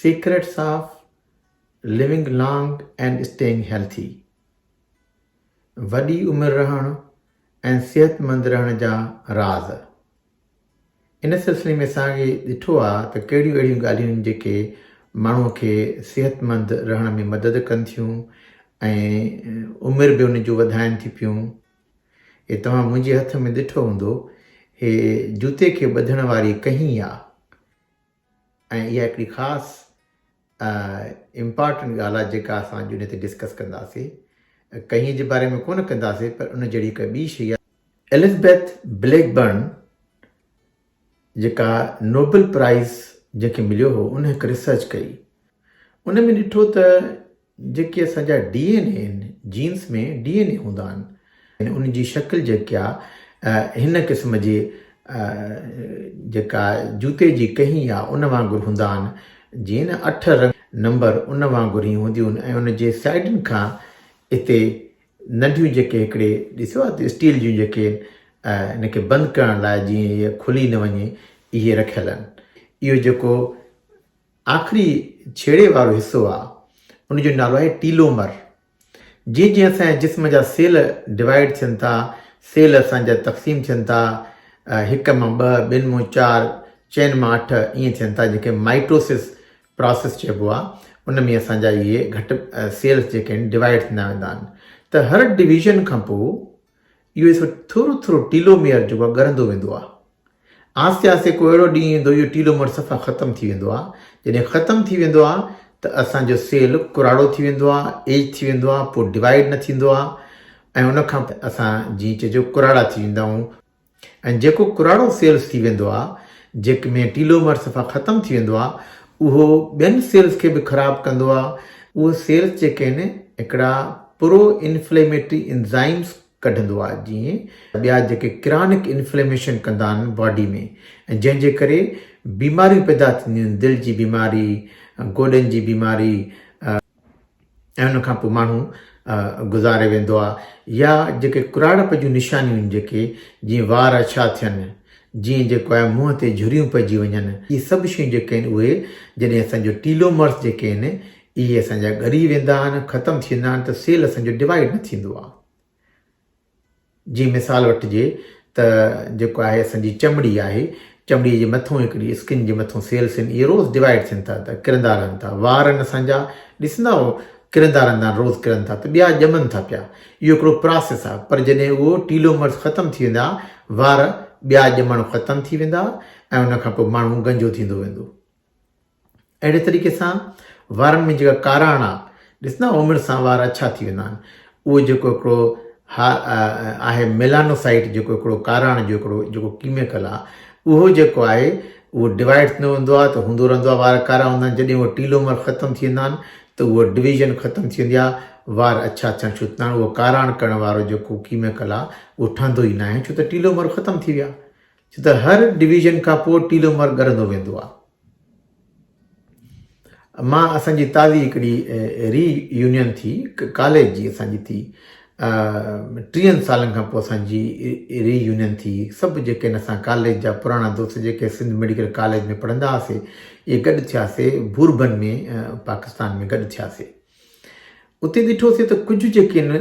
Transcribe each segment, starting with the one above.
Secrets of living long and staying healthy, وڏي عمر رهڻ ۽ صحتمند رهڻ جا راز. ان سلسلي ۾ اسان کي ڏٺو آهي ته ڪهڙيون اهڙيون ڳالهيون آهن جيڪي ماڻهوء کي صحتمند رهڻ ۾ مدد ڪن ٿيون ۽ عمر به ان جون وڌائن ٿي پيون. هي توهان منهنجي هٿ ۾ ڏٺو هوندو، هي جوتي کي ٻڌڻ واري ڪهين آ ۽ اها هڪڙي خاص امپارٽنٽ ڳالهه آ جيڪا اسان اڄ انهي تي ڊسڪس ڪنداسي. ڪهين جي باري ۾ ڪونه ڪنداسي پر ان جهڙي هڪ ٻي شيء آ. الزبيٿ بليڪ برن جيڪا نوبل پرائز جنهن کي مليو هو ان هڪ ريسرچ ڪئي ان ۾ ڏٺو ته جيڪي اسان جا ڊي اين اي آهن، جينس ۾ ڊي اين اي هوندا آهن، ان جي شڪل جيڪي آ هن قسم جي جيڪا جوتي جي ڪهين آ ان وانگر هوندا آهن، جيئن نه اٺ رنگ نمبر ان وانگر هي هونديون آهن ۽ ان جي سائيڊن کان اتي ننڍيون جيڪي هڪڙي ڏسيو آ اسٽيل جون جيڪي ان کي بند ڪرڻ لاء جيئن هي کلي نه وڃي اهي رکيل آهن اهو جيڪو آخري ڇيڙي وارو حصو آ ان جو نالو آهي ٽيلومر. جيئن جيئن اسان جي جسم جا سيل ڊوائيڊ ٿين ٿا، سيل اسان جا تقسيم ٿين ٿا، هڪ مان ٻه، ٻن مون چار، چئن مان اٺ ائين ٿين ٿا جنهن کي مائٽوسس پراسس چئبو آ، ان ۾ اسان جا اهي گهٽ سيلس جيڪي آهن ڊوائيڊ ٿيندا ويندا آهن ته هر ڊويزن کان پو اهو ايسو ٿورو ٿورو ٽيلوميئر جيڪو آهي ڳرندو ويندو آهي. آهستي آهستي ڪو اهڙو ڏينهن ايندو اهو ٽيلومر صفا ختم ٿي ويندو آهي. جڏهن ختم ٿي ويندو آهي ته اسان جو سيل ڪراڙو ٿي ويندو آهي، ايج ٿي ويندو آهي، پوء ڊوائيڊ نه ٿيندو آهي ۽ ان کان پوء اسان جيئن چئجو ڪراڙا ٿي ويندا آهيون. ۽ جيڪو ڪراڙو سيلز ٿي ويندو آهي، جيڪ ۾ ٽيلومر صفا ختم ٿي ويندو آهي، اهو ٻين سيلز کي به خراب ڪندو آهي. اهي سيلز جيڪي آهن، هڪڙا پرو انفليميٽري انزائمز ڪڍندو آهي، جيئن ٻيا جيڪي ڪرانڪ انفليميشن ڪندا آهن باڊي ۾، ۽ جنهن جي ڪري بيماريون پيدا ٿينديون آهن، دل جي بيماري، گوڏن جي بيماري، ۽ ان کان پوء ماڻهو گذاري ويندو آهي يا جيڪي ڪراڙپ جون نشانيون آهن جيڪي جيئن وار اڇا ٿين جيئن جيڪو آهي منهن تي جھريون پئجي وڃن اهي سڀ شيون جيڪي آهن اهي جڏهن اسان جو ٽيلومرس جيڪي آهن اهي اسان جا ڳري ويندا آهن ختم ٿي ويندا آهن ته سيل اسان جو ڊوائيڊ نه ٿيندو آهي جي مثال وٺجي ته جيڪو آهي اسان جي چمڙي آهي چمڙي جي مٿون هڪڙي اسڪن جي مٿون سيلس آهن اهي روز ڊوائيڊ ٿين ٿا ته ڪرندا رهن ٿا وار آهن اسان جا ڏسندا اهو ڪرندا رهندا آهن روز ڪرن ٿا ته ٻيا ڄمن ٿا پيا اهو هڪڙو پراسيس آهي پر جڏهن اهو ٽيلو مرس ختم ٿي ويندا وار ٻيا ڄمڻ ختم ٿي ويندا ۽ ان کان پوء ماڻهو گنجو ٿيندو ويندو اهڙي طريقي سان وارن ۾ جيڪا ڪاراڻا ڏسندا عمر سان وار اڇا ٿي ويندا آهن اهو جيڪو هڪڙو آهي ميلانوسائيٽ جيڪو هڪڙو ڪاراڻ جو هڪڙو جيڪو ڪيميڪل آهي اهو جيڪو آهي اهو ڊوائڊ ٿيندو ويندو آهي ته هوندو رهندو آهي وار ڪارا هوندا آهن جڏهن اهو ٽيلومر ختم ٿي ويندا آهن ته اهو ڊويزن ختم ٿي ويندي آهي وار اڇا ٿيڻ شروع ٿيندا آهن اهو ڪاراڻ ڪرڻ وارو جيڪو ڪيميڪل آهي اهو ٺهندو ئي ناهي ڇو ته ٽيلومر ختم ٿي ويا ڇو ته هر ڊويزن کان پوء ٽيلو مر ڳرندو ويندو آهي. مان اسان جي تازي هڪڙي ري يونين ٿي ڪاليج جي اسان جي ٿي ٽيهن سالن کان پوء اسان جي ري يونين ٿي سڀ جيڪي هن اسان ڪاليج جا پراڻا دوست جيڪي سنڌ ميڊيڪل ڪاليج ۾ پڙهندا هئاسي اهي گڏ ٿياسي بوربن ۾ پاڪستان ۾ گڏ ٿياسي اتي ڏٺوسين ته ڪجهه جيڪي ان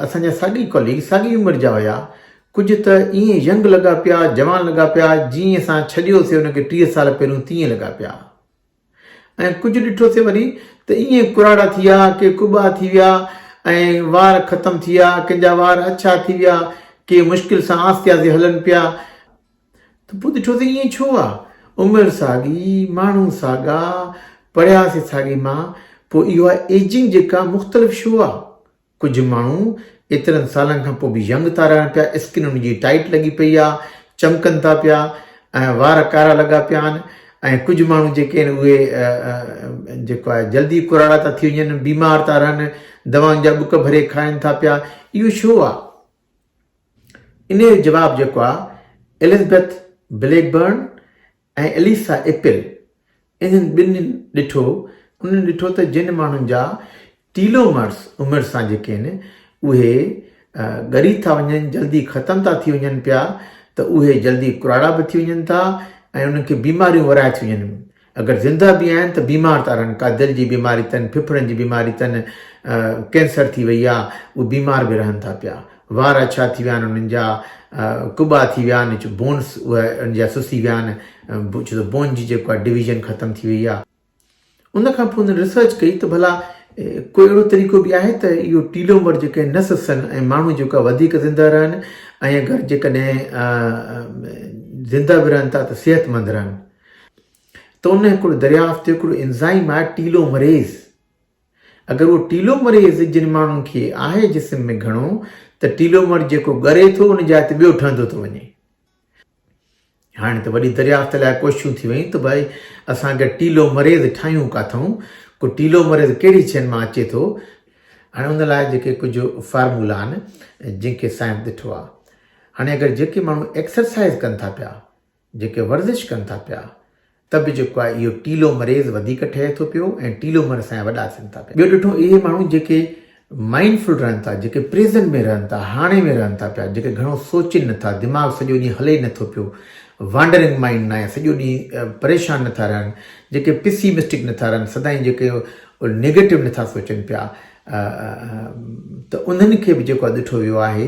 اسان جا ساڳي ڪاليگ ساڳي عمر جا هيا ڪجهه ته ائين ينگ لڳا پيا جوان لڳا پيا جيئن اسان ڇڏيوسي ان کي ٽيهه سال پهريون تيئن لڳا پيا ۽ ڪجهه ڏٺوسي وري ته ائين ڪراڙا ٿي ويا ڪي ڪٻا ٿي ويا ۽ وار ختم ٿي ويا ڪنهن جا وار اڇا ٿي ويا ڪي مشڪل سان آهستي آهستي هلن پيا ته پوء ڏٺو ته ائين ڇو آ؟ عمر ساڳي، ماڻهو ساڳا، پڙهيا سي ساڳي مان، پوء اها ايجنگ جيڪا مختلف ڇو آ؟ ڪجهه ماڻهو ايترن سالن کان پوء به ينگ ٿا رهن پيا، اسڪن انهن جي ٽائيٽ لڳي پئي آ، چمڪن ٿا پيا ۽ وار ڪارا لڳا پيا آهن ۽ ڪجهه ماڻهو جيڪي آهن اهي جيڪو آهي جلدي ڪراڙا ٿا ٿي وڃن، بيمار ٿا رهن، دوائن جا ٻڪ ڀري کائن ٿا پيا، اهو ڇو آ؟ انهيء جو جواب جيڪو آهي ايلزبيٿ بليڪ برن ۽ اليسا ايپل انهن ٻنهين ڏٺو، انهن ڏٺو ته جن ماڻهن جا ٽيلومرس عمر سان جيڪي آهن اهي ڳري ٿا وڃن، جلدي ختم ٿا ٿي وڃن پيا ته اهي جلدي ڪراڙا به ٿي وڃن ٿا ۽ انهن کي بيماريون ورهائي ٿيون وڃن. اگر زنده به آهن ته بيمار ٿا رهن ڪا دل جي بيماري تن ڦڦڙن جي بيماري تن ڪينسر ٿي وئي آ اهي بيمار به رهن ٿا پيا وار اڇا ٿي ويا آهن انهن جا ڪٻا ٿي ويا آهن چ بونس اهي ان جا سسي ويا آهن چ ته بون جي جيڪو آهي ڊويزن ختم ٿي وئي آ ان کان پوء هن ريسرچ ڪئي ته ڀلا ڪو اهڙو طريقو به آهي ته اهو ٽيلومر جيڪي نه سسن ۽ ماڻهو جيڪو آهي وڌيڪ زنده رهن ۽ اگر جيڪڏهن زنده به رهن ٿا ته صحت مند رهن ته ان هڪڙو دريافت ٿيو هڪڙو انزائم آهي ٽيلو مريز اگر اهو ٽيلو مريز جن ماڻهن کي آهي جسم ۾ گهڻو ته ٽيلو مر جيڪو ڳري ٿو ان جاء تي ٻيو ٺهندو ٿو وڃي هاڻي ته وڏي دريافت لاء ڪوششون ٿي ويون ته ڀائي اسان اگر ٽيلو مريز ٺاهيون ڪاٿون ڪو ٽيلو مريز ڪهڙي شين مان اچي ٿو هاڻي ان لاء جيڪي ڪجهه فارمولا آهن جن کي سائنس ڏٺو آهي هاڻي اگر جيڪي ماڻهو ايڪسرسائز ڪن ٿا پيا جيڪي ورزش ڪن ٿا پيا ته به جيڪو آهي اهو ٽيلو مريض وڌيڪ ٺهي ٿو پيو ۽ ٽيلو مر اسان جا وڏا ٿين ٿا پيا. ٻيو ڏٺو اهي ماڻهو جيڪي مائنڊ فل رهن ٿا، جيڪي پريزنٽ ۾ رهن ٿا، هاڻي ۾ رهن ٿا پيا، جيڪي گهڻو سوچين نه ٿا، دماغ سڄو ڏينهن هلي نه ٿو پيو، وانڊرنگ مائنڊ ناهي، سڄو ڏينهن پريشان نه ٿا رهن، جيڪي پيسيمسٽڪ نه ٿا رهن، سدائين جيڪي نيگيٽو نه ٿا سوچن پيا ته انهن کي به جيڪو آهي ڏٺو ويو آهي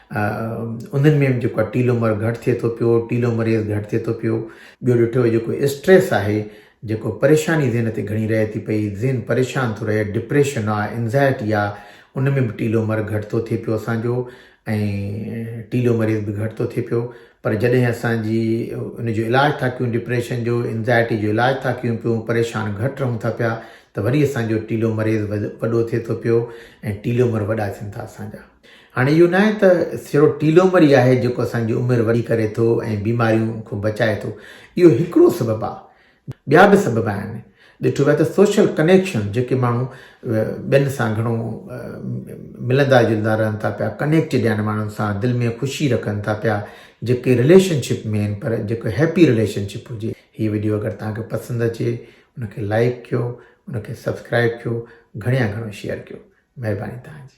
انهن ۾ جيڪو آهي ٽيلومر گهٽ ٿئي ٿو پيو ٽيلومريز گهٽ ٿئي ٿو پيو ٻيو ڏٺو وڃي جيڪو اسٽريس آهي جيڪو پريشاني ذهن تي گهڻي رهي ٿي پئي ذهن پريشان ٿو رهي ڊپريشن آهي انزائٽي آهي ان ۾ به ٽيلومر گهٽ ٿو ٿئي پيو اسانجو ۽ ٽيلومريز به گهٽ ٿو ٿئي پيو پر جڏهن اسانجي ان جو علاج ٿا ڪيون ڊپريشن جو انزائٽي جو علاج ٿا ڪيون پيون پريشان گهٽ رهون ٿا پيا ته وري اسانجو ٽيلومريز وڏو ٿئي ٿو پيو ۽ ٽيلومر وڏا ٿين ٿا اسانجا هاڻي اهو ناهي ته سهرو ٽيلومر ئي آهي جيڪو اسان جي عمر وڏي ڪري ٿو ۽ بيمارين کون بچائي ٿو. اهو هڪڙو سبب آهي. ٻيا به سبب آهن. ڏٺو ويو ته سوشل ڪنيڪشن جيڪي ماڻهو ٻين سان گهڻو ملندا جلندا رهن ٿا پيا، ڪنيڪٽيڊ آهن ماڻهن سان، دل ۾ خوشي رکن ٿا پيا، جيڪي رليشن شپ ۾ آهن پر جيڪو هيپي رليشن شپ هجي. هي وڊيو اگر توهان کي پسند اچي ان کي لائيڪ ڪيو، ان کي سبسڪرائيب ڪيو، گهڻي يا گهڻو شيئر ڪيو. مهرباني توهان جي.